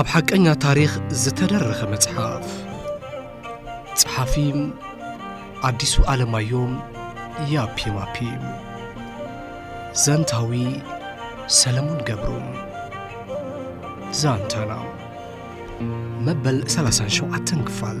ኣብ ሓቀኛ ታሪኽ ዝተደረኸ መጽሓፍ ጸሓፊ ኣዲሱ ኣለማዮም ያፒማፒ ዘንታዊ ሰለሙን ገብሩ ዛንታና መበል 37 ክፋል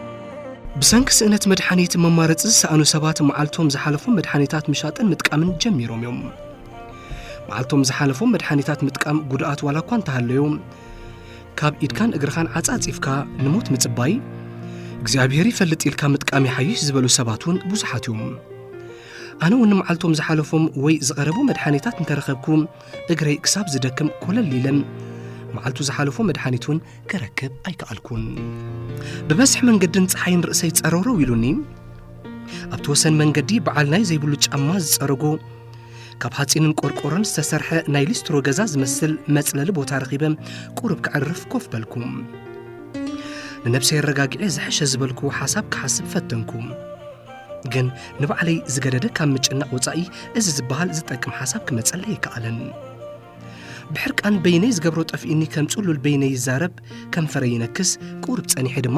ብሰንኪ ስእነት መድሓኒት መማረፂ ዝሰኣኑ ሰባት መዓልቶም ዝሓለፎም መድሓኒታት ምሻጥን ምጥቃምን ጀሚሮም እዮም። መዓልቶም ዝሓለፎም መድሓኒታት ምጥቃም ጉድኣት ዋላ እኳ እንተሃለዮ ካብ ኢድካን እግርኻን ዓፃፂፍካ ንሞት ምፅባይ እግዚኣብሔር ይፈልጥ ኢልካ ምጥቃም ይሓይሽ ዝበሉ ሰባት እውን ብዙሓት እዮም ኣነ እውን መዓልቶም ዝሓለፎም ወይ ዝቐረቡ መድሓኒታት እንተረኸብኩ እግረይ ክሳብ ዝደክም ኮለል ኢለን መዓልቱ ዝሓለፎ መድሓኒት እውን ክረክብ ኣይከኣልኩን ብመስሕ መንገድን ፀሓይን ርእሰይ ጸረውረው ኢሉኒ ኣብቲ ወሰን መንገዲ በዓል ናይ ዘይብሉ ጫማ ዝጸረጎ ካብ ሓፂንን ቆርቆሮን ዝተሰርሐ ናይ ሊስትሮ ገዛ ዝመስል መጽለሊ ቦታ ረኺበ ቁርብ ክዕርፍ ኮፍ በልኩ ንነብሰይ ኣረጋግዐ ዝሐሸ ዝበልኩ ሓሳብ ክሓስብ ፈተንኩ ግን ንባዕለይ ዝገደደ ካብ ምጭናቕ ወፃኢ እዚ ዝበሃል ዝጠቅም ሓሳብ ክመፀለይ ኣይከኣለን ብሕርቃን በይነይ ዝገብሮ ጠፍኢኒ ከም ጽሉል በይነይ ይዛረብ ከንፈረይ ይነክስ ቁርብ ጸኒሐ ድማ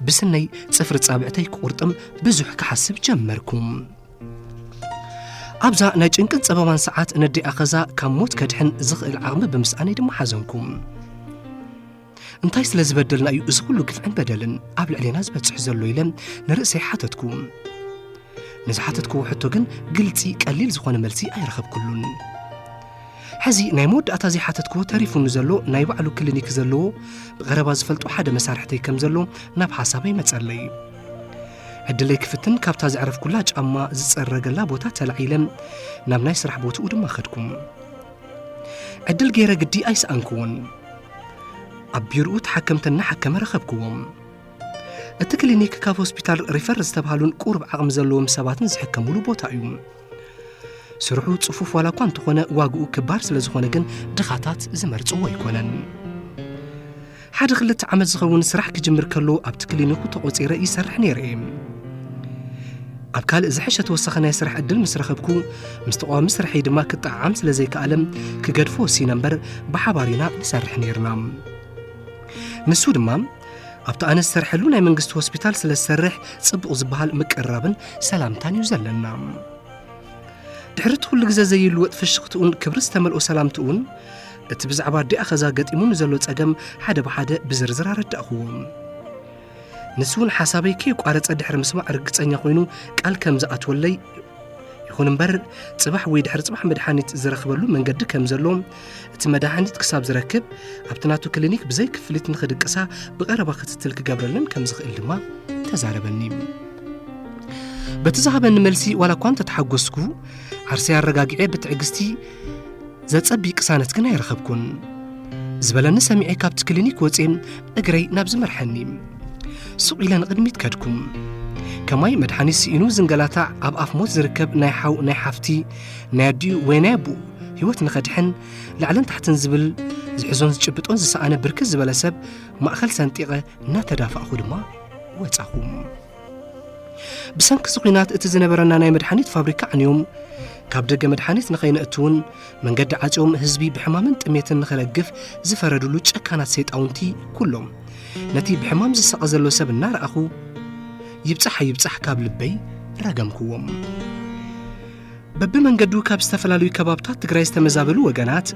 ብስነይ ጽፍሪ ጻብዕተይ ክቁርጥም ብዙሕ ክሓስብ ጀመርኩ ኣብዛ ናይ ጭንቅን ጸበባን ሰዓት ነደይ ኣኸዛ ካብ ሞት ከድሕን ዝኽእል ዓቕሚ ብምስኣነይ ድማ ሓዘንኩ እንታይ ስለ ዝበደልና እዩ እዚ ኩሉ ግፍዕን በደልን ኣብ ልዕሌና ዝበጽሕ ዘሎ ኢለ ንርእሰይ ሓተትኩ ንዝሓተትክዎ ሕቶ ግን ግልፂ ቀሊል ዝኾነ መልሲ ኣይረኸብኩሉን ሕዚ ናይ መወዳእታ ዘይሓተትክዎ ተሪፉኒ ዘሎ ናይ ባዕሉ ክሊኒክ ዘለዎ ብቐረባ ዝፈልጦ ሓደ መሳርሕተይ ከም ዘሎ ናብ ሓሳበይ መጸለይ ዕድለይ ክፍትን ካብታ ዘዕረፍኩላ ጫማ ዝጸረገላ ቦታ ተላዒለ ናብ ናይ ስራሕ ቦትኡ ድማ ኸድኩም ዕድል ገይረ ግዲ ኣይሰኣንክዎን ኣብ ቢሮኡ ተሓከምቲ እናሓከመ ረኸብክዎም እቲ ክሊኒክ ካብ ሆስፒታል ሪፈር ዝተብሃሉን ቁርብ ዓቕሚ ዘለዎም ሰባትን ዝሕከምሉ ቦታ እዩ ስርሑ ጽፉፍ ዋላ እኳ እንተኾነ ዋግኡ ክባር ስለ ዝኾነ ግን ድኻታት ዝመርጽዎ ኣይኮነን ሓደ ክልተ ዓመት ዝኸውን ስራሕ ክጅምር ከሎ ኣብቲ ክሊኒኩ ተቖጺረ ይሰርሕ ነይረ እየ ኣብ ካልእ ዝሐሸ ተወሳኺ ናይ ስራሕ ዕድል ምስ ረኸብኩ ምስ ተቃዋሚ ስርሐይ ድማ ክጠዓዓም ስለ ዘይከኣለም ክገድፎ ወሲነ እምበር ብሓባር ኢና ንሰርሕ ነይርና ንሱ ድማ ኣብቲ ኣነ ዝሰርሐሉ ናይ መንግስቲ ሆስፒታል ስለ ዝሰርሕ ጽቡቕ ዝበሃል ምቅርራብን ሰላምታን እዩ ዘለና ድሕሪ እቲ ኩሉ ግዜ ዘይልወጥ ፍሽኽትኡን ክብሪ ዝተመልኦ ሰላምትኡን እቲ ብዛዕባ ኣዲኣ ኸዛ ገጢሙ ንዘሎ ጸገም ሓደ ብሓደ ብዝርዝር ኣረዳእኽዎም ንሱ እውን ሓሳበይ ከይቋረጸ ድሕሪ ምስማዕ ርግጸኛ ኮይኑ ቃል ከም ዝኣትወለይ ይኹን እምበር ጽባሕ ወይ ድሕሪ ጽባሕ መድሓኒት ዝረኽበሉ መንገዲ ከም ዘሎ እቲ መድሃኒት ክሳብ ዝረክብ ኣብቲ ናቱ ክሊኒክ ብዘይ ክፍሊት ንኽድቅሳ ብቐረባ ክትትል ክገብረለን ከም ዝኽእል ድማ ተዛረበኒ በቲ ዝሃበኒ መልሲ ዋላ እኳ እንተተሓጎስኩ ዓርሰይ ኣረጋጊዐ ብትዕግስቲ ዘጸቢ ቅሳነት ግን ኣይረኸብኩን ዝበለኒ ሰሚዐ ካብቲ ክሊኒክ ወፅም እግረይ ናብ ዝመርሐኒ ሱቕ ኢለ ንቕድሚት ከድኩም ከማይ መድሓኒት ስኢኑ ዝንገላታዕ ኣብ ኣፍ ሞት ዝርከብ ናይ ሓው ናይ ሓፍቲ ናይ ኣዲኡ ወይ ናይ ኣቡኡ ህይወት ንኸድሕን ላዕልን ታሕትን ዝብል ዝሕዞን ዝጭብጦን ዝሰኣነ ብርክት ዝበለ ሰብ ማእኸል ሰንጢቐ እናተዳፋእኹ ድማ ወፃኹም ብሰንኪ እዚ ኲናት እቲ ዝነበረና ናይ መድሓኒት ፋብሪካ ዓንዮም ካብ ደገ መድሓኒት ንኸይነእትውን መንገዲ ዓጽዮም ህዝቢ ብሕማምን ጥሜትን ንኸረግፍ ዝፈረድሉ ጨካናት ሰይጣውንቲ ኩሎም ነቲ ብሕማም ዝሳቐ ዘሎ ሰብ እናረኣኹ ይብጻሕ ኣይብጻሕ ካብ ልበይ ረገምክዎም በብመንገዱ ካብ ዝተፈላለዩ ከባብታት ትግራይ ዝተመዛበሉ ወገናት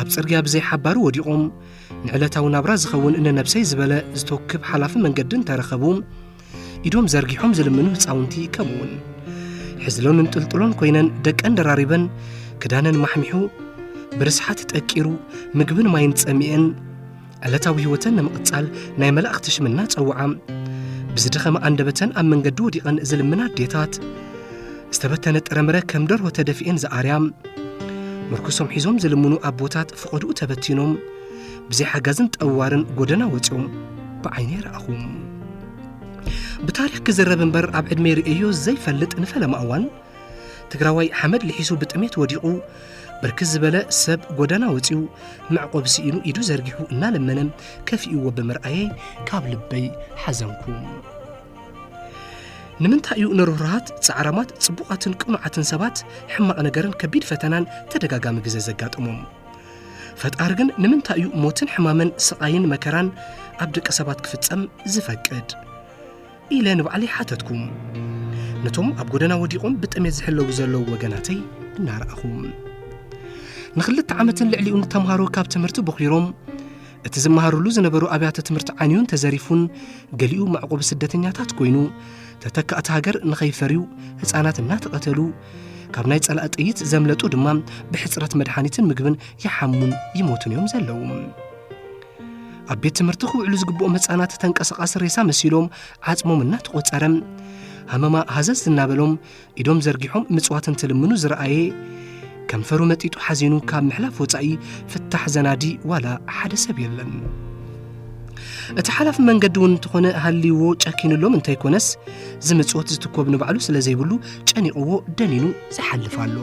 ኣብ ጽርግያ ብዘይሓባሩ ወዲቖም ንዕለታዊ ናብራ ዝኸውን ንነብሰይ ዝበለ ዝተውክብ ሓላፊ መንገዲ እንተረኸቡ ኢዶም ዘርጊሖም ዝልምኑ ህፃውንቲ ከምኡውን ሕዝሎንን ጥልጥሎን ኮይነን ደቀን ደራሪበን ክዳነን ማሕሚሑ ብርስሓት ጠቂሩ ምግብን ማይን ጸሚኤን ዕለታዊ ህይወተን ንምቕጻል ናይ መላእኽቲ ሽምና ጸውዓ ብዝደኸመ ኣንደበተን ኣብ መንገዲ ወዲቐን ዝልምና ኣዴታት ዝተበተነ ጥረምረ ከም ደርሆ ተደፊኤን ዝኣርያ ምርኩሶም ሒዞም ዝልምኑ ኣቦታት ፍቐድኡ ተበቲኖም ብዘይ ሓጋዝን ጠዋርን ጎደና ወፂኦም ብዓይነ ይረኣኹ ብታሪክ ክዝረብ እምበር ኣብ ዕድመ ርእዮ ዘይፈልጥ ንፈለማ እዋን ትግራዋይ ሓመድ ልሒሱ ብጥሜት ወዲቑ ብርክት ዝበለ ሰብ ጎደና ወፂኡ መዕቆብ ስኢኑ ኢዱ ዘርጊሑ እናለመነ ከፊእዎ ብምርኣየይ ካብ ልበይ ሓዘንኩ ንምንታይ እዩ ንርህሩሃት፣ ጻዕራማት፣ ጽቡቓትን ቅኑዓትን ሰባት ሕማቕ ነገርን ከቢድ ፈተናን ተደጋጋሚ ግዘ ዘጋጥሞም? ፈጣሪ ግን ንምንታይ እዩ ሞትን ሕማምን ስቓይን መከራን ኣብ ደቂ ሰባት ክፍጸም ዝፈቅድ? ኢለ ንባዕለይ ሓተትኩ ነቶም ኣብ ጎደና ወዲቖም ብጥሜት ዝሕለዉ ዘለዉ ወገናተይ እናረኣኹ ንክልተ ዓመትን ልዕሊኡን ተምሃሮ ካብ ትምህርቲ ቦኺሮም እቲ ዝመሃርሉ ዝነበሩ ኣብያተ ትምህርቲ ዓንዩን ተዘሪፉን ገሊኡ መዕቆቢ ስደተኛታት ኮይኑ ተተካእቲ ሃገር ንኸይፈርዩ ህፃናት እናተቐተሉ ካብ ናይ ጸላእ ጥይት ዘምለጡ ድማ ብሕፅረት መድሓኒትን ምግብን ይሓሙን ይሞቱን እዮም ዘለዉ ኣብ ቤት ትምህርቲ ክውዕሉ ዝግብኦም ህፃናት ተንቀሳቓሲ ሬሳ መሲሎም ዓፅሞም እናተቖፀረ ሃመማ ሃዘዝ እናበሎም ኢዶም ዘርጊሖም ምጽዋት እንትልምኑ ዝረኣየ ከንፈሩ መጢጡ ሓዚኑ ካብ ምሕላፍ ወፃኢ ፍታሕ ዘናዲ ዋላ ሓደ ሰብ የለን እቲ ሓላፊ መንገዲ እውን እንተኾነ ሃልይዎ ጨኪንሎም እንተይኮነስ ዝምፅወት ዝትኮብ ንባዕሉ ስለ ዘይብሉ ጨኒቕዎ ደኒኑ ዝሓልፍ ኣሎ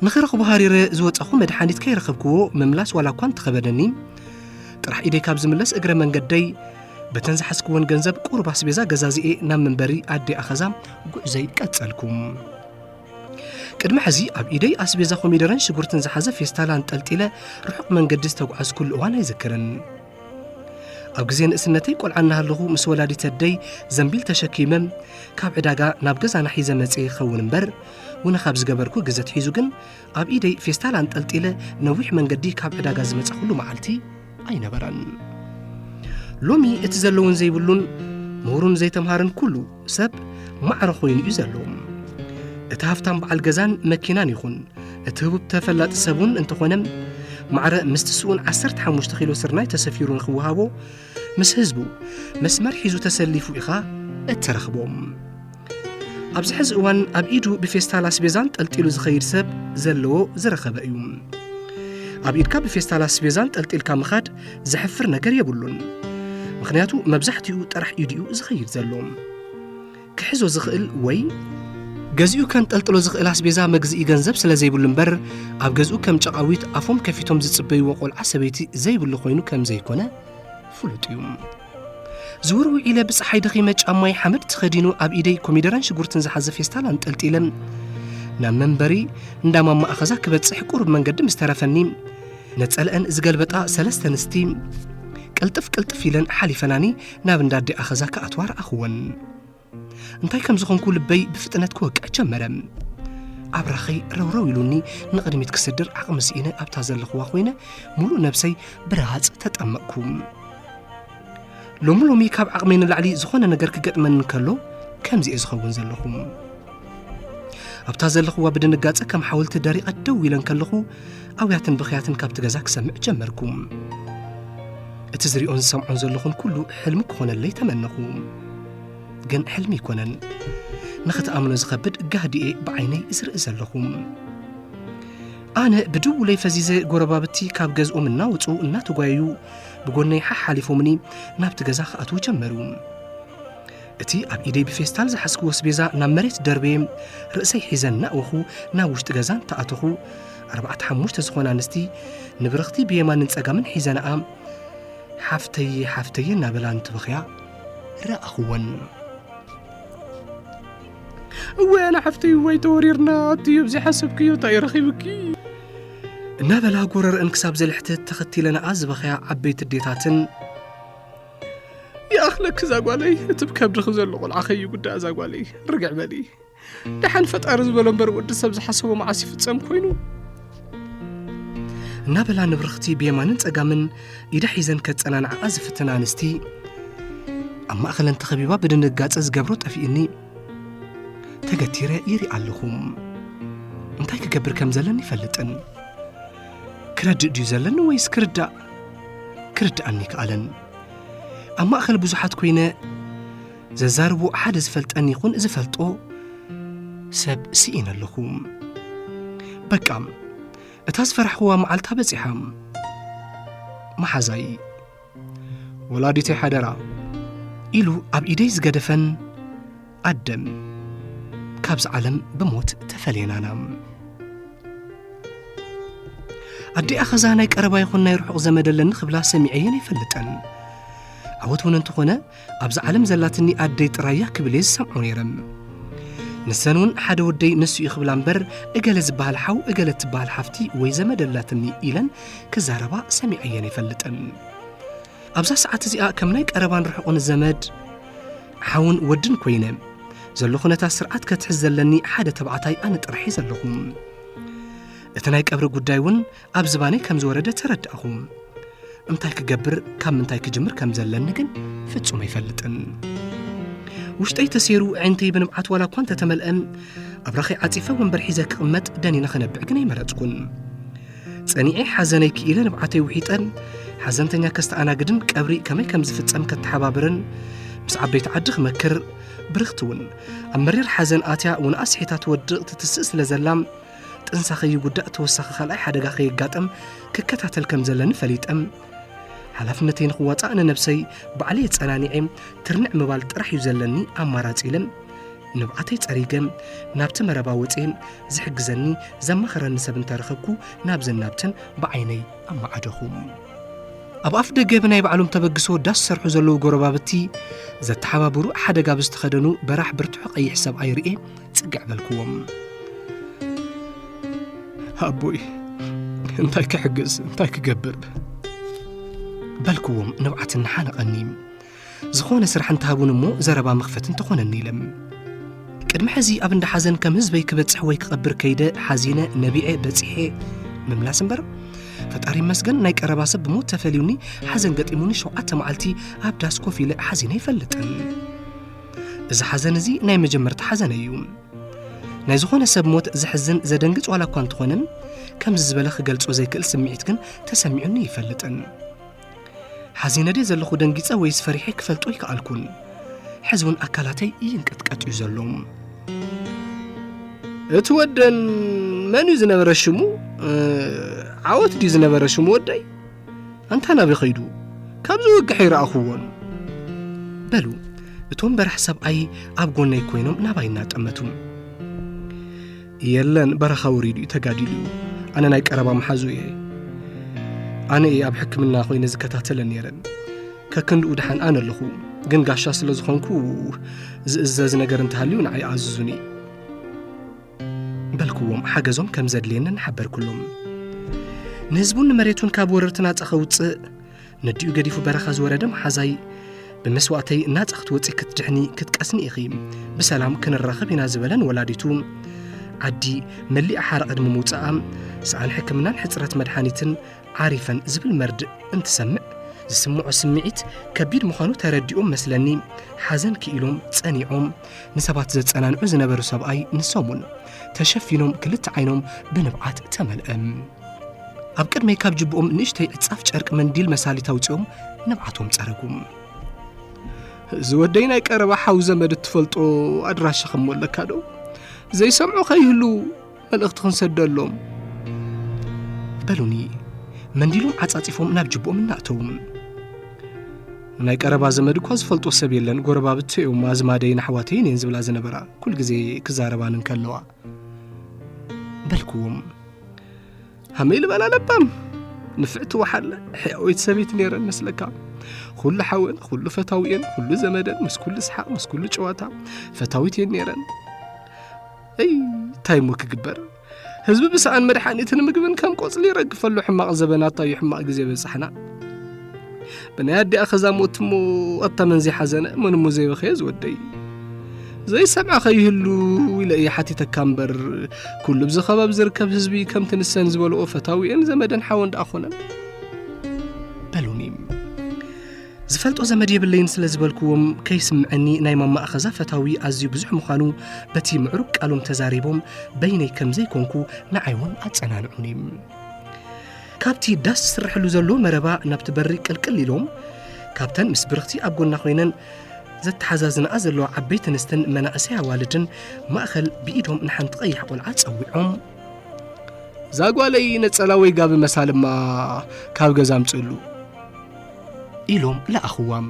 ንኽረኽቦ ሃሪረ ዝወጸኹ መድሓኒት ከይረኸብክዎ ምምላስ ዋላ እኳ እንተኸበደኒ ጥራሕ ኢደይ ካብ ዝምለስ እግረ መንገደይ በተን ዝሓዝክወን ገንዘብ ቁሩብ ኣስቤዛ ገዛዚኤ ናብ መንበሪ ኣዴ ኣኸዛ ጉዕዘይ ቀጸልኩም ቅድሚ ሕዚ ኣብ ኢደይ ኣስቤዛ ኮሚደረን ሽጉርትን ዝሓዘ ፌስታላ ጠልጢለ ርሑቕ መንገዲ ዝተጓዓዝኩሉ እዋን ኣይዝክርን ኣብ ግዜ ንእስነተይ ቆልዓ እናሃለኹ ምስ ወላዲት ኣደይ ዘንቢል ተሸኪመ ካብ ዕዳጋ ናብ ገዛና ሒዘ መጽ ይኸውን እምበር ውነ ካብ ዝገበርኩ ግዘ ትሒዙ ግን ኣብ ኢደይ ፌስታል ኣንጠልጢለ ነዊሕ መንገዲ ካብ ዕዳጋ ዝመፀኹሉ መዓልቲ ኣይነበረን ሎሚ እቲ ዘለውን ዘይብሉን ምሁሩን ዘይተምሃርን ኩሉ ሰብ ማዕረ ኮይኑ እዩ ዘሎ እቲ ሃፍታም በዓል ገዛን መኪናን ይኹን እቲ ህቡብ ተፈላጢ ሰብ እውን እንተኾነ ማዕረ ምስቲ ስኡን 15 ኪሎ ስርናይ ተሰፊሩ ንክወሃቦ ምስ ህዝቡ መስመር ሒዙ ተሰሊፉ ኢኻ እትረኽቦም ኣብዚ ሕዚ እዋን ኣብ ኢዱ ብፌስታል ኣስቤዛ ጠልጢሉ ዝኸይድ ሰብ ዘለዎ ዝረኸበ እዩ ኣብ ኢድካ ብፌስታል ኣስቤዛን ጠልጢልካ ምኻድ ዘሕፍር ነገር የብሉን ምክንያቱ መብዛሕትኡ ጥራሕ ኢድኡ ዝኸይድ ዘሎ ክሕዞ ዝኽእል ወይ ገዚኡ ከንጠልጥሎ ዝኽእል ኣስቤዛ መግዝኢ ገንዘብ ስለ ዘይብሉ እምበር ኣብ ገዝኡ ከም ጨቓዊት ኣፎም ከፊቶም ዝጽበይዎ ቆልዓ ሰበይቲ ዘይብሉ ኮይኑ ከም ዘይኮነ ፍሉጥ እዩ ዝውር ውዒለ ብፀሓይ ደኺመ ጫማይ ሓመድ ተኸዲኑ ኣብ ኢደይ ኮሚደረን ሽጉርትን ዝሓዘ ፌስታል ኣንጠልጢለ ናብ መንበሪ እንዳ ማማ ኣኸዛ ክበፅሕ ቁሩብ መንገዲ ምስ ተረፈኒ ነፀለአን ዝገልበጣ ሰለስተ ንስቲ ቅልጥፍ ቅልጥፍ ኢለን ሓሊፈናኒ ናብ እንዳ ኣዴ ኣኸዛ ክኣትዋ ረኣኽወን እንታይ ከም ዝኾንኩ ልበይ ብፍጥነት ክወቅዕ ጀመረ ኣብራኸይ ረውረው ኢሉኒ ንቕድሚት ክስድር ዓቕሚ ስኢነ ኣብታ ዘለኽዋ ኮይነ ሙሉእ ነብሰይ ብረሃፅ ተጠመቕኩ ሎሚ ሎሚ ካብ ዓቕመይ ንላዕሊ ዝኾነ ነገር ክገጥመኒ ከሎ ከምዚ እየ ዝኸውን ዘለኹ ኣብታ ዘለኹዋ ብድንጋጸ ከም ሓወልቲ ደሪቐ ደው ኢለ ከለኹ ኣውያትን ብኽያትን ካብቲ ገዛ ክሰምዕ ጀመርኩ እቲ ዝሪኦን ዝሰምዖን ዘለኹን ኩሉ ሕልሚ ክኾነለይ ተመነኹ ግን ሕልሚ ኣይኮነን ንኽትኣምኖ ዝኸብድ ጋህዲኤ ብዓይነይ ዝርኢ ዘለኹ ኣነ ብድውለይ ፈዚዘ ጎረባብቲ ካብ ገዝኦም እናወፁ እናተጓየዩ ብጎነይ ሓሓሊፎምኒ ናብቲ ገዛ ክኣትዉ ጀመሩ እቲ ኣብ ኢደይ ብፌስታል ዝሓዝክዎ ስቤዛ ናብ መሬት ደርበየ ርእሰይ ሒዘ እናእወኹ ናብ ውሽጢ ገዛ እንተኣተኹ ኣርባዕተ ሓሙሽተ ዝኾና ኣንስቲ ንብርኽቲ ብየማንን ጸጋምን ሒዘናኣ ሓፍተየ ሓፍተየ እናበላ እንትበኽያ ረኣኽወን እወይ ኣነ ሓፍተይ እወይ ተወሪርና ኣትዩ ኣብዚ ሓሰብክዮ እንታይ ረኺብኪ እናበላ ጎረርአን ክሳብ ዘልሕትት ተኸቲለናኣ ዝበኸያ ዓበይቲ ዴታትን ይኣኽለኪ እዛ ጓለይ እቲ ብከብድኺ ዘሎ ቆልዓ ከይጉዳእ እዛ ጓለይ ርግዕ በሊ ደሓን ፈጣሪ ዝበሎ እምበር ወዲ ሰብ ዝሓሰቦ መዓስ ይፍጸም ኮይኑ እናበላ ንብርኽቲ ብየማንን ጸጋምን ኢዳ ሒዘን ከጸናንዓኣ ዝፍትና ኣንስቲ ኣብ ማእኸለን ተኸቢባ ብድንጋጸ ዝገብሮ ጠፊኡኒ ተገቲረ ይርኢ ኣለኹም እንታይ ክገብር ከም ዘለኒ ይፈልጥን ክረድእ ድዩ ዘለኒ ወይስ ክርዳእ ክርድኣኒ ኣይከኣለን ኣብ ማእኸል ብዙሓት ኮይነ ዘዛርቦ ሓደ ዝፈልጠን ይኹን ዝፈልጦ ሰብ ስኢነ ኣለኹ በቃ እታ ዝፈራሕኹዋ መዓልታ በፂሓ መሓዛይ ወላዲተይ ሓደራ ኢሉ ኣብ ኢደይ ዝገደፈን ዓደም ካብዚ ዓለም ብሞት ተፈልየናና ኣዲኣ ኸዛ ናይ ቀረባ ይኹን ናይ ርሑቕ ዘመድ ኣለኒ ክብላ ሰሚዐየን ኣይፈልጠን ዓወት እውን እንተኾነ ኣብዚ ዓለም ዘላትኒ ኣደይ ጥራያ ክብል እየ ዝሰምዖ ነይረ ንሰን እውን ሓደ ወደይ ንሱ እዩ ክብላ እምበር እገለ ዝበሃል ሓው እገለ እትበሃል ሓፍቲ ወይ ዘመድ ኣላትኒ ኢለን ክዛረባ ሰሚዐየን ኣይፈልጠን ኣብዛ ሰዓት እዚኣ ከም ናይ ቀረባን ርሑቕን ዘመድ ሓውን ወድን ኮይነ ዘሎ ኩነታት ስርዓት ከትሕዝ ዘለኒ ሓደ ተባዕታይ ኣነ ጥራሕየ ዘለኹ እቲ ናይ ቀብሪ ጉዳይ እውን ኣብ ዝባነይ ከም ዝወረደ ተረዳእኹ እንታይ ክገብር ካብ ምንታይ ክጅምር ከም ዘለኒ ግን ፍጹም ኣይፈልጥን ውሽጠይ ተሰይሩ ዕንተይ ብንብዓት ዋላ እኳ እንተተመልአ ኣብራኸይ ዓጺፈ ወንበር ሒዘ ክቕመጥ ደኒነ ክነብዕ ግን ኣይመረጽኩን ጸኒዔ ሓዘነይ ክኢለ ንብዓተይ ውሒጠን ሓዘንተኛ ከስተኣናግድን ቀብሪ ከመይ ከም ዝፍጸም ከተሓባብርን ምስ ዓበይቲ ዓዲ ክመክር ብርኽቲ እውን ኣብ መሪር ሓዘን ኣትያ እውን ኣስሒታ ትወድቕ ትትስእ ስለ ዘላ ጥንሳ ከይጉዳእ ተወሳኺ ካልኣይ ሓደጋ ከየጋጠም ክከታተል ከም ዘለኒ ፈሊጠም ሓላፍነተይ ንክዋፃእ ንነብሰይ ባዕለይ የፀናኒዐ ትርንዕ ምባል ጥራሕ እዩ ዘለኒ ኣማራፂ ኢለ ንብዓተይ ፀሪገ ናብቲ መረባ ወፅየ ዝሕግዘኒ ዘማኽረኒ ሰብ እንተ ረኸብኩ ናብዘን ናብትን ብዓይነይ ኣመዓደኹ ኣብ ኣፍ ደገ ብናይ ባዕሎም ተበግሶ ዳስ ዝሰርሑ ዘለዉ ጎረባብቲ ዘተሓባብሩ ሓደጋ ብዝተኸደኑ በራሕ ብርትሑ ቀይሕ ሰብኣይ ርኤ ጽግዕ በልክዎም ኣቦይ እንታይ ክሕግዝ እንታይ ክገብር በልክዎም ንብዓት እናሓነቐኒ ዝኾነ ስራሕ እንተሃቡኒ እሞ ዘረባ መኽፈቲ እንተኾነኒ ኢለ። ቅድሚ ሕዚ ኣብ እንዳ ሓዘን ከም ህዝበይ ክበጽሕ ወይ ክቐብር ከይደ ሓዚነ ነቢዐ በጺሐ ምምላስ እምበር ፈጣሪ ይመስገን ናይ ቀረባ ሰብ ብሞት ተፈልዩኒ ሓዘን ገጢሙኒ ሸውዓተ መዓልቲ ኣብ ዳስ ኮፍ ኢለ ሓዚነ ይፈልጥን እዚ ሓዘን እዚ ናይ መጀመርታ ሓዘነ እዩ ናይ ዝኾነ ሰብ ሞት ዘሕዝን ዘደንግጽ ዋላ እኳ እንተኾነን ከምዚ ዝበለ ክገልጾ ዘይክእል ስምዒት ግን ተሰሚዑኒ ይፈልጥን ሓዚነ ድየ ዘለኹ ደንጊጸ ወይስ ፈሪሐ ክፈልጦ ኣይከኣልኩን ሕዚ እውን ኣካላተይ ይንቀጥቀጥ እዩ ዘሎ እቲ ወደን መን እዩ ዝነበረ ሽሙ ዓወት ድዩ ዝነበረ ሽሙ ወደይ ኣንታ ናበይ ኸይዱ ካብዚ ወግሐ ይረኣኹዎን በሉ እቶም በራሕ ሰብኣይ ኣብ ጎነይ ኮይኖም ናባይ እናጠመቱ የለን በረኻ ወሪዱ እዩ ተጋዲሉ እዩ ኣነ ናይ ቀረባ መሓዙ እየ ኣነ እየ ኣብ ሕክምና ኮይነ ዝከታተለ ነይረን ከክንድኡ ድሓን ኣነ ኣለኹ ግን ጋሻ ስለ ዝኾንኩ ዝእዘዝ ነገር እንተሃልዩ ንዓይ ኣዝዙኒ በልክዎም ሓገዞም ከም ዘድልየንን ሓበርኩሎም ንህዝቡን ንመሬቱን ካብ ወረርቲ ናጻ ከውፅእ ነዲኡ ገዲፉ በረኻ ዝወረደ መሓዛይ ብመስዋእተይ ናጻ ክትወፂ ክትድሕኒ ክትቀስኒ ኢኺ ብሰላም ክንራኸብ ኢና ዝበለን ወላዲቱ ዓዲ መሊኣ ሓራ ቅድሚ ምውፅኣ ሰኣን ሕክምናን ሕፅረት መድሓኒትን ዓሪፈን ዝብል መርድእ እንትሰምዕ ዝስምዖ ስምዒት ከቢድ ምዃኑ ተረዲኦም መስለኒ ሓዘን ክኢሎም ጸኒዖም ንሰባት ዘጸናንዑ ዝነበሩ ሰብኣይ ንሶም እውን ተሸፊኖም ክልተ ዓይኖም ብንብዓት ተመልአ ኣብ ቅድመይ ካብ ጅብኦም ንእሽተይ ዕጻፍ ጨርቂ መንዲል መሳሊት ኣውፂኦም ንብዓቶም ጸረጉም እዚ ወደይ ናይ ቀረባ ሓው ዘመድ እትፈልጦ ኣድራሻ ከም ኣለካ ዶ ዘይሰምዑ ከይህሉ መልእኽቲ ክንሰደሎም በሉኒ መንዲሎም ዓጻጺፎም ናብ ጅብኦም እናእተዉ ናይ ቀረባ ዘመድ እኳ ዝፈልጦ ሰብ የለን ጎረባብቲ እዮም ኣዝማደይን ኣሕዋተይን እየን ዝብላ ዝነበራ ኩል ግዜ ክዛረባን እንከለዋ በልክዎም ሃመይ ልበላ ለባም ንፍዕቲ ወሓለ ሕያወይቲ ሰበይቲ ነይረን መስለካ ኩሉ ሓወን ኩሉ ፈታዊኤን ኩሉ ዘመደን ምስ ኩሉ ስሓቕ ምስ ኩሉ ጨዋታ ፈታዊት እየን ነይረን እይ እንታይ እሞ ክግበር ህዝቢ ብሰኣን መድሓኒትን ምግብን ከም ቆፅሊ ይረግፈሉ ሕማቕ ዘበናት ኣዩ ሕማቕ ግዜ በፃሕና ብናይ ኣዲኣ ከዛሙት እሞ ኣታ መን ዘይሓዘነ መን እሞ ዘይበኸየ ዝወደይ ዘይሰምዐኸ ይህሉ ኢለ እየ ሓቲተካ እምበር ኩሉ ብዚ ከባቢ ዝርከብ ህዝቢ ከምቲ ንሰን ዝበልኦ ፈታዊኤን ዘመደን ሓወን ደኣ ኮነን በሉኒ ዝፈልጦ ዘመድ የብለይን ስለ ዝበልክዎም ከይስምዐኒ ናይ ማማ ኣኸዛ ፈታዊ ኣዝዩ ብዙሕ ምዃኑ በቲ ምዕሩግ ቃሎም ተዛሪቦም በይነይ ከም ዘይኮንኩ ንዓይ እውን ኣጸናንዑኒ ካብቲ ዳስ ዝስርሐሉ ዘሎ መረባ ናብቲ በሪ ቅልቅል ኢሎም ካብተን ምስ ብርኽቲ ኣብ ጎና ኮይነን ዘተሓዛዝናኣ ዘለዋ ዓበይቲ ኣንስትን መናእሰይ ኣዋልድን ማእኸል ብኢዶም ንሓንቲ ቀያሕ ቆልዓ ጸዊዖም ዛጓለይ ነጸላ ወይ ጋቢ መሳልማ ካብ ገዛ ኣምጽእሉ ኢሎም ለኣኽዋም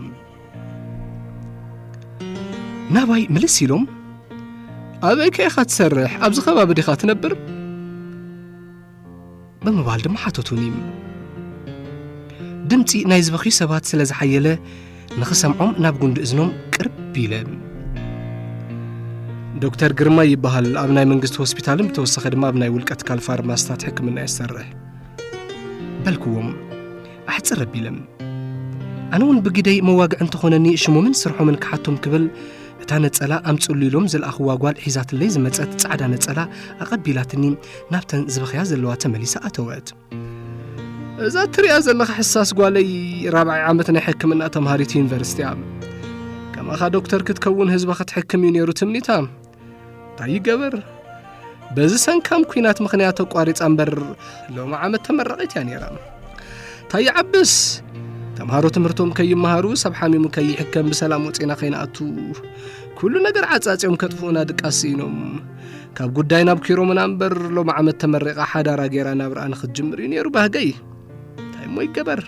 ናባይ ምልስ ኢሎም ኣበይ ከ ኢኻ ትሰርሕ ኣብዚ ከባቢ ዲኻ ትነብር ብምባል ድማ ሓተቱኒ ድምፂ ናይ ዝበኽዩ ሰባት ስለ ዝሓየለ ንኽሰምዖም ናብ ጉንዲ እዝኖም ቅርብ ኢለ ዶክተር ግርማ ይበሃል ኣብ ናይ መንግስቲ ሆስፒታልን ብተወሰኸ ድማ ኣብ ናይ ውልቀ ትካል ፋርማስታት ሕክምና የሰርሕ በልክዎም ኣሕፅር ኣቢለም ኣነ እውን ብግደይ መዋግዒ እንተኾነኒ ሽሞምን ስርሖምን ክሓቶም ክብል እታ ነጸላ ኣምጽሉ ኢሎም ዝለኣኽዋ ጓል ሒዛትለይ ዝመጸት ጻዕዳ ነጸላ ኣቐቢላትኒ ናብተን ዝበኽያ ዘለዋ ተመሊሳ ኣተወት። እዛ እትሪኣ ዘለኻ ሕሳስ ጓለይ ራብዓይ ዓመት ናይ ሕክምና ተምሃሪት ዩኒቨርሲቲ እያ። ከማኻ ዶክተር ክትከውን ህዝባ ክትሕክም እዩ ነይሩ ትምኒታ። እንታይ ይገበር በዚ ሰንካም ኩናት ምኽንያት ተቋሪፃ እምበር ሎሚ ዓመት ተመራቒት እያ ነይራ። እንታይ ይዓብስ ተምሃሮ ትምህርቶም ከይመሃሩ ሰብ ሓሚሙ ከይሕከም ብሰላም ወፂና ከይንኣቱ ኩሉ ነገር ዓፃፂዮም ከጥፍኡና ድቃስ ስኢኖም ካብ ጉዳይ ናብ ኪሮምና እምበር ሎሚ ዓመት ተመሪቓ ሓዳራ ገይራ ናብርኣ ንኽትጅምር እዩ ነይሩ ባህገይ እንታይ እሞ ይገበር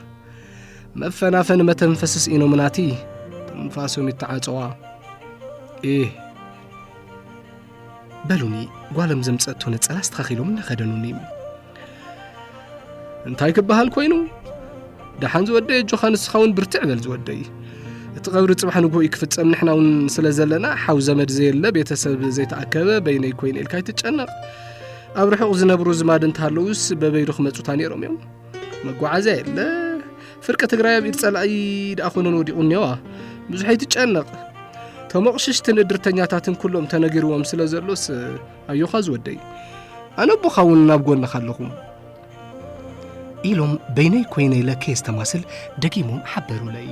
መፈናፈኒ መተንፈሲ ስኢኖምናቲ ትንፋሶም ይተዓፀዋ እ በሉኒ ጓሎም ዘምፀእቶ ነፀላ ኣስተኻኺሎም እናኸደኑኒ እንታይ ክበሃል ኮይኑ ደሓን ዝወደይ ኣጆኻ ንስኻ እውን ብርትዕ በል ዝወደይ እቲ ቐብሪ ጽባሕ ንግሆ እዩ ክፍጸም ንሕና እውን ስለ ዘለና ሓው ዘመድ ዘየለ ቤተሰብ ዘይተኣከበ በይነይ ኮይኑ ኢልካ ይትጨነቕ ኣብ ርሑቕ ዝነብሩ ዝማድ እንተሃለውስ በበይዶ ክመፁታ ነይሮም እዮም መጓዓዝያ የለ ፍርቂ ትግራይ ኣብ ኢድ ጸላኢ ደኣ ኮነን ወዲቑ እኒዋ ብዙሕ ኣይትጨነቕ ተሞቕሽሽትን እድርተኛታትን ኩሎም ተነጊርዎም ስለ ዘሎስ ኣዮኻ ዝወደይ ኣነ ኣቦኻ እውን ናብ ጎንኻ ኣለኹ ኢሎም በይነይ ኮይነ ኢለ ከየስተማስል ደጊሞም ሓበሩለይ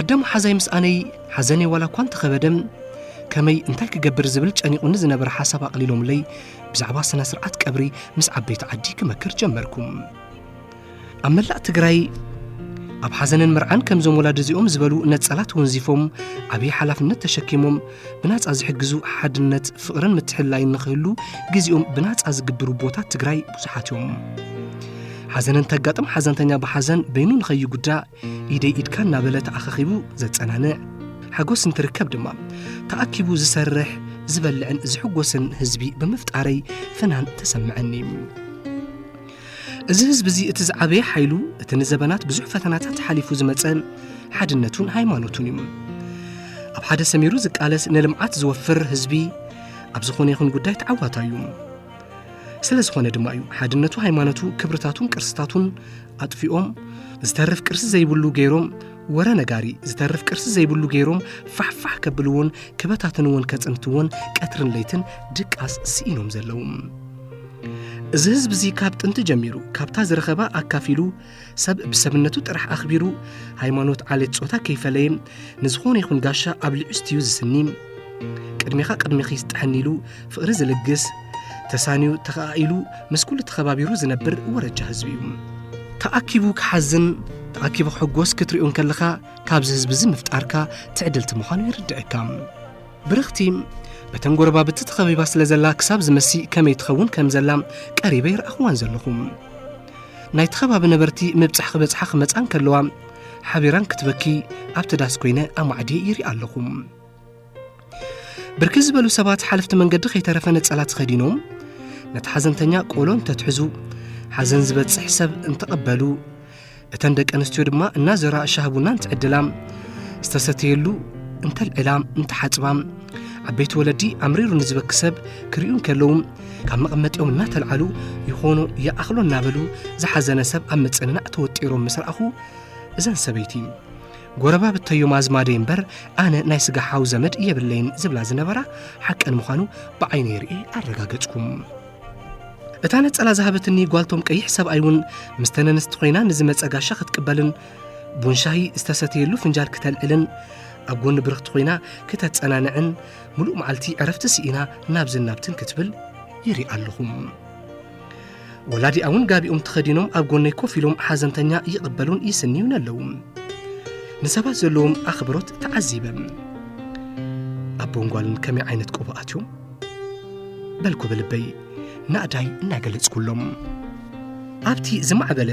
ኣዳም ሓዛይ ምስ ኣነይ ሓዘነይ ዋላ እኳ እንተኸበደ ከመይ እንታይ ክገብር ዝብል ጨኒቑኒ ዝነበረ ሓሳብ ኣቕሊሎምለይ ብዛዕባ ስነ ስርዓት ቀብሪ ምስ ዓበይቲ ዓዲ ክመክር ጀመርኩም ኣብ መላእ ትግራይ ኣብ ሓዘንን መርዓን ከምዞም ወላዲ እዚኦም ዝበሉ ነጸላት ወንዚፎም ዓብዪ ሓላፍነት ተሸኪሞም ብናጻ ዝሕግዙ ሓድነት ፍቕርን ምትሕላይን ንኽህሉ ግዜኦም ብናጻ ዝግብሩ ቦታት ትግራይ ብዙሓት እዮም ሓዘነን ተጋጥም ሓዘንተኛ ብሓዘን በይኑ ንኸይጉዳ ኢደይ ኢድካ እናበለ ተኣኻኺቡ ዘጸናንዕ ሓጎስ እንትርከብ ድማ ተኣኪቡ ዝሰርሕ ዝበልዕን ዝሕጎስን ህዝቢ ብምፍጣረይ ፍናን ተሰምዐኒ እዚ ህዝቢ እዚ እቲ ዝዓበየ ሓይሉ እቲ ንዘበናት ብዙሕ ፈተናታት ሓሊፉ ዝመጸ ሓድነቱን ሃይማኖቱን እዩ ኣብ ሓደ ሰሚሩ ዝቃለስ ንልምዓት ዝወፍር ህዝቢ ኣብ ዝኾነ ይኹን ጉዳይ ተዓዋታ እዩ ስለ ዝኾነ ድማ እዩ ሓድነቱ ሃይማኖቱ ክብርታቱን ቅርስታቱን ኣጥፊኦም ዝተርፍ ቅርሲ ዘይብሉ ገይሮም ወረ ነጋሪ ዝተርፍ ቅርሲ ዘይብሉ ገይሮም ፋሕፋሕ ከብልዎን ክበታትንዎን ከጽንትዎን ቀትርን ለይትን ድቃስ ስኢኖም ዘለዉ እዚ ህዝቢ እዚ ካብ ጥንቲ ጀሚሩ ካብታ ዝረኸባ ኣካፊሉ ሰብ ብሰብነቱ ጥራሕ ኣኽቢሩ ሃይማኖት ዓሌት ጾታ ከይፈለየ ንዝኾነ ይኹን ጋሻ ኣብ ልዕስቲዩ ዝስኒ ቅድሜኻ ቅድሜኺ ዝጥሕኒ ኢሉ ፍቕሪ ዝልግስ ተሳንዩ ተኸኣኢሉ ምስ ኩሉ ተኸባቢሩ ዝነብር ወረጃ ህዝቢ እዩ ተኣኪቡ ክሓዝን ተኣኪቡ ክሕጎስ ክትሪኦ እንከለኻ ካብዚ ህዝቢ እዚ ምፍጣርካ ትዕድልቲ ምዃኑ ይርድዐካ ብርኽቲ በተን ጎረባብቲ ተኸቢባ ስለ ዘላ ክሳብ ዝመሲ ከመይ ትኸውን ከም ዘላ ቀሪበ ይርኣኽዋን ዘለኹ ናይቲ ከባቢ ነበርቲ ምብጻሕ ክበጽሓ ክመጻን ከለዋ ሓቢራን ክትበኪ ኣብቲ ዳስ ኮይነ ኣማዕድየ ይርኢ ኣለኹ ብርክት ዝበሉ ሰባት ሓለፍቲ መንገዲ ከይተረፈ ነጸላ ተኸዲኖም ነቲ ሓዘንተኛ ቆሎ እንተትሕዙ ሓዘን ዝበጽሕ ሰብ እንተቐበሉ እተን ደቂ ኣንስትዮ ድማ እናዘራ ሻህ ቡና እንትዕድላ ዝተሰተየሉ እንተልዕላ እንተሓፅባ ዓበይቲ ወለዲ ኣምሪሩ ንዝበኪ ሰብ ክርእዩ እንከለዉ ካብ መቐመጢኦም እናተልዓሉ ይኾኑ ይኣኽሎ እናበሉ ዝሓዘነ ሰብ ኣብ ምፅንናዕ ተወጢሮም ምስ ረኣኹ እዘን ሰበይቲ ጎረባብተዮም ኣዝማደይ እምበር ኣነ ናይ ስጋ ሓው ዘመድ የብለይን ዝብላ ዝነበራ ሓቀን ምዃኑ ብዓይነይ ርእየ ኣረጋገጽኩም እታ ነጸላ ዝሃበትኒ ጓልቶም ቀይሕ ሰብኣይ እውን ምስ ተነንስቲ ኮይና ንዝመጸ ጋሻ ክትቅበልን ቡን ሻሂ ዝተሰተየሉ ፍንጃል ክተልዕልን ኣብ ጎኒ ብርኽቲ ኮይና ክተጸናንዕን ምሉእ መዓልቲ ዕረፍቲ ስኢና ናብዝን ናብትን ክትብል ይርኢ ኣለኹም ወላዲኣ እውን ጋቢኦም ተኸዲኖም ኣብ ጎነይ ኮፍ ኢሎም ሓዘንተኛ ይቕበሉን ይስንዩን ኣለዉ ንሰባት ዘለዎም ኣኽብሮት ተዓዚበ ኣቦን ጓልን ከመይ ዓይነት ቆቦ ኣትዮም በልኩ ብልበይ ናእዳይ እናገለጽኩሎም ኣብቲ ዝማዕበለ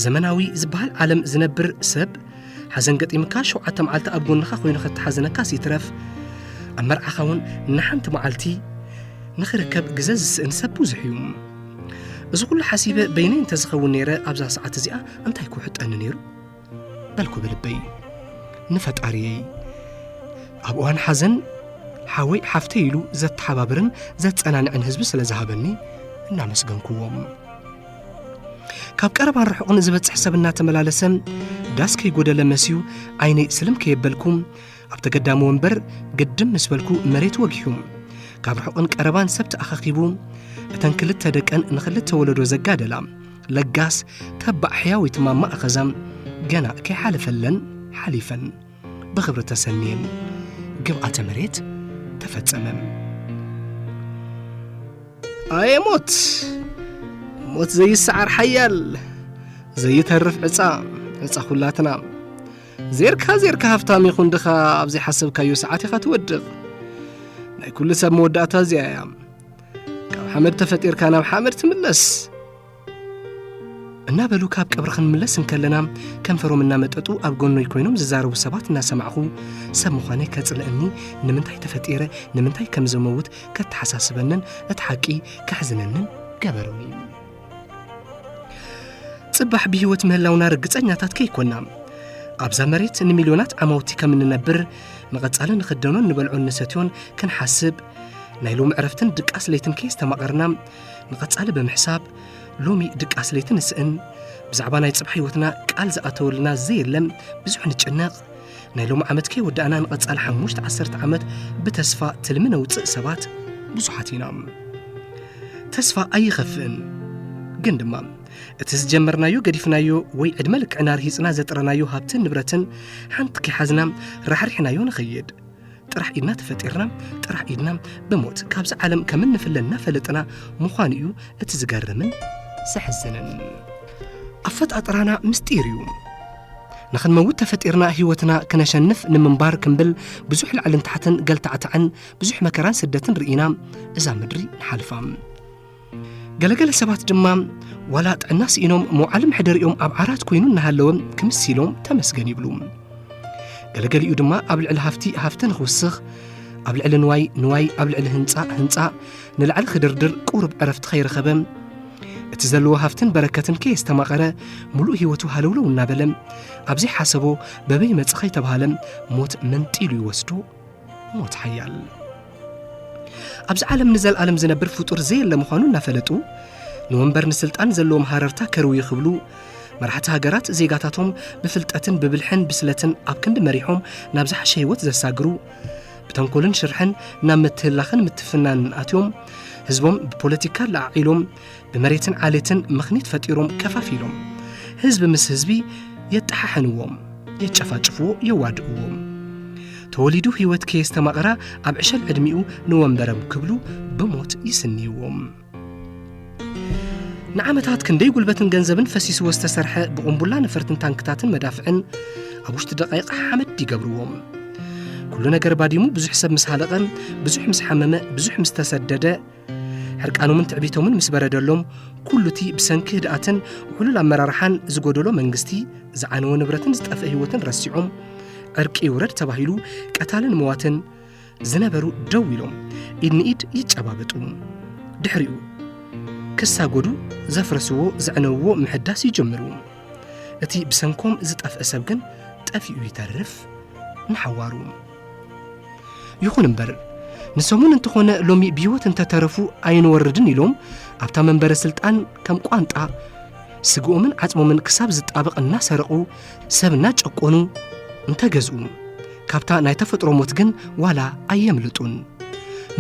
ዘመናዊ ዝበሃል ዓለም ዝነብር ሰብ ሓዘን ገጢምካ ሸውዓተ መዓልቲ ኣብ ጎንኻ ኮይኑ ከተሓዘነካ ሲትረፍ ኣብ መርዓኻ እውን ንሓንቲ መዓልቲ ንኽርከብ ግዘ ዝስእን ሰብ ብዙሕ እዩ እዚ ኩሉ ሓሲበ በይነይ እንተዝኸውን ነይረ ኣብዛ ሰዓት እዚኣ እንታይ ክውሕጠኒ ነይሩ በልኩ ብልበይ ንፈጣሪየይ ኣብ እዋን ሓዘን ሓወይ ሓፍተይ ኢሉ ዘተሓባብርን ዘጸናንዕን ህዝቢ ስለ ዝሃበኒ እናመስገንኩዎም ካብ ቀረባን ርሑቕን ዝበጽሕ ሰብ እናተመላለሰ ዳስ ከይጐደለ መስዩ ዓይነይ ስልም ከየበልኩ ኣብ ተገዳሚ ወንበር ግድም ምስ በልኩ መሬት ወጊሑ ካብ ርሑቕን ቀረባን ሰብ ተኣኻኺቡ እተን ክልተ ደቀን ንኽልተ ወለዶ ዘጋደላ ለጋስ ተባዕ ሕያዊት ማማ ኣኸዛም ገና ከይሓለፈለን ሓሊፈን ብኽብሪ ተሰንየን ግብኣተ መሬት ተፈጸመም ኣየ ሞት ሞት ዘይሰዓር ሓያል ዘይተርፍ ዕፃ ዕፃ ኩላትና ዜርካ ዜርካ ሃፍታም ይኹን ድኻ ኣብ ዘይሓሰብካዮ ሰዓት ኢኻ ትወድቕ ናይ ኩሉ ሰብ መወዳእታ እዚኣ እያ ካብ ሓመድ ተፈጢርካ ናብ ሓመድ ትምለስ እናበሉ ካብ ቀብሪ ክንምለስ እንከለና ከንፈሮም እናመጠጡ ኣብ ጎኖይ ኮይኖም ዝዛረቡ ሰባት እናሰማዕኹ ሰብ ምዃነ ከጽልእኒ ንምንታይ ተፈጢረ ንምንታይ ከም ዘመውት ከተሓሳስበንን እቲ ሓቂ ከሕዝነንን ገበሩኒ ጽባሕ ብህይወት ምህላውና ርግጸኛታት ከይኮና ኣብዛ መሬት ንሚልዮናት ዓማውቲ ከም እንነብር ንቐጻሊ ንኽደኖን ንበልዖን ንሰትዮን ክንሓስብ ናይ ሎሚ ዕረፍትን ድቃስ ለይትን ከየስተማቐርና ንቐጻሊ ብምሕሳብ ሎሚ ድቃስ ለይቲ ንስእን ብዛዕባ ናይ ጽባሕ ህይወትና ቃል ዝኣተወልና ዘየለ ብዙሕ ንጭነቕ ናይ ሎም ዓመት ከይወዳእና ንቐጻል ሓሙሽተ ዓሰርተ ዓመት ብተስፋ ትልሚ ነውፅእ ሰባት ብዙሓት ኢና ተስፋ ኣይኸፍእን ግን ድማ እቲ ዝጀመርናዮ ገዲፍናዮ ወይ ዕድመ ልክዕና ርሂፅና ዘጥረናዮ ሃብትን ንብረትን ሓንቲ ከይሓዝና ራሕሪሕናዮ ንኸይድ ጥራሕ ኢድና ተፈጢርና ጥራሕ ኢድና ብሞት ካብዚ ዓለም ከም እንፍለ እናፈለጥና ምዃኑ እዩ እቲ ዝገርምን ዘሕዝንን ኣፈጣጥራና ምስጢር እዩ ንኽንመውት ተፈጢርና ህይወትና ክነሸንፍ ንምንባር ክንብል ብዙሕ ላዕልን ታሕትን ገልታዕታዕን ብዙሕ መከራን ስደትን ርኢና እዛ ምድሪ ንሓልፋ ገለገለ ሰባት ድማ ዋላ ጥዕና ስኢኖም መውዓሊ መሕደሪኦም ኣብ ዓራት ኮይኑ እናሃለወ ክምስ ኢሎም ተመስገን ይብሉ ገለገሊኡ ድማ ኣብ ልዕሊ ሃፍቲ ሃፍቲ ንኽውስኽ ኣብ ልዕሊ ንዋይ ንዋይ ኣብ ልዕሊ ህንፃ ህንፃ ንላዕሊ ክድርድር ቁሩብ ዕረፍቲ ከይረኸበ እቲ ዘለዎ ሃፍትን በረከትን ከየስተማቐረ ሙሉእ ህይወቱ ሃለውለው እናበለ ኣብዘይ ሓሰቦ በበይ መፅ ከይተባሃለ ሞት መንጢሉ ይወስዶ ሞት ሓያል ኣብዚ ዓለም ንዘለኣለም ዝነብር ፍጡር ዘየለ ምዃኑ እናፈለጡ ንወንበር ንስልጣን ዘለዎም ሃረርታ ከርውዩ ክብሉ መራሕቲ ሃገራት ዜጋታቶም ብፍልጠትን ብብልሕን ብስለትን ኣብ ክንዲ መሪሖም ናብ ዝሓሸ ህይወት ዘሳግሩ ብተንኮልን ሽርሕን ናብ ምትህላኽን ምትፍናንን ኣትዮም ህዝቦም ብፖለቲካ ለዓዒሎም ብመሬትን ዓሌትን ምኽኒት ፈጢሮም ከፋፊሎም ህዝቢ ምስ ህዝቢ የጠሓሕንዎም የጨፋጭፍዎ የዋድእዎም ተወሊዱ ህይወት ከየስተማቕራ ኣብ ዕሸል ዕድሚኡ ንወንበረም ክብሉ ብሞት ይስንይዎም ንዓመታት ክንደይ ጉልበትን ገንዘብን ፈሲስዎ ዝተሰርሐ ብቑምቡላ ነፈርትን ታንክታትን መዳፍዕን ኣብ ውሽጢ ደቃይቕ ሓመድ ይገብርዎም ኩሉ ነገር ባዲሙ ብዙሕ ሰብ ምስ ሃለቐ ብዙሕ ምስ ሓመመ ብዙሕ ምስ ተሰደደ ሕርቃኖምን ትዕቢቶምን ምስ በረደሎም ኩሉ እቲ ብሰንኪ ህድኣትን ውሕሉል ኣመራርሓን ዝጎደሎ መንግስቲ ዝዓነወ ንብረትን ዝጠፍአ ህይወትን ረሲዖም ዕርቂ ይውረድ ተባሂሉ ቀታልን መዋትን ዝነበሩ ደው ኢሎም ኢድ ንኢድ ይጨባበጡ ድሕሪኡ ክሳጎዱ ዘፍረስዎ ዘዕነውዎ ምሕዳስ ይጅምሩ እቲ ብሰንኮም ዝጠፍአ ሰብ ግን ጠፊኡ ይተርፍ ንሓዋሩ ይኹን እምበር ንሰሙን እንተኾነ ሎሚ ብህይወት እንተተረፉ ኣይንወርድን ኢሎም ኣብታ መንበረ ስልጣን ከም ቋንጣ ስግኦምን ዓጽሞምን ክሳብ ዝጣበቕ እናሰረቑ ሰብ እናጨቆኑ እንተገዝኡ ካብታ ናይ ተፈጥሮ ሞት ግን ዋላ ኣየምልጡን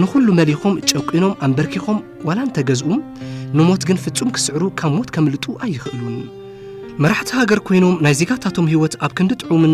ንዅሉ መሊኾም ጨቂኖም ኣንበርኪኾም ዋላ እንተገዝኡ ንሞት ግን ፍጹም ክስዕሩ ካብ ሞት ከምልጡ ኣይኽእሉን መራሕቲ ሃገር ኮይኖም ናይ ዜጋታቶም ህይወት ኣብ ክንዲ ጥዑምን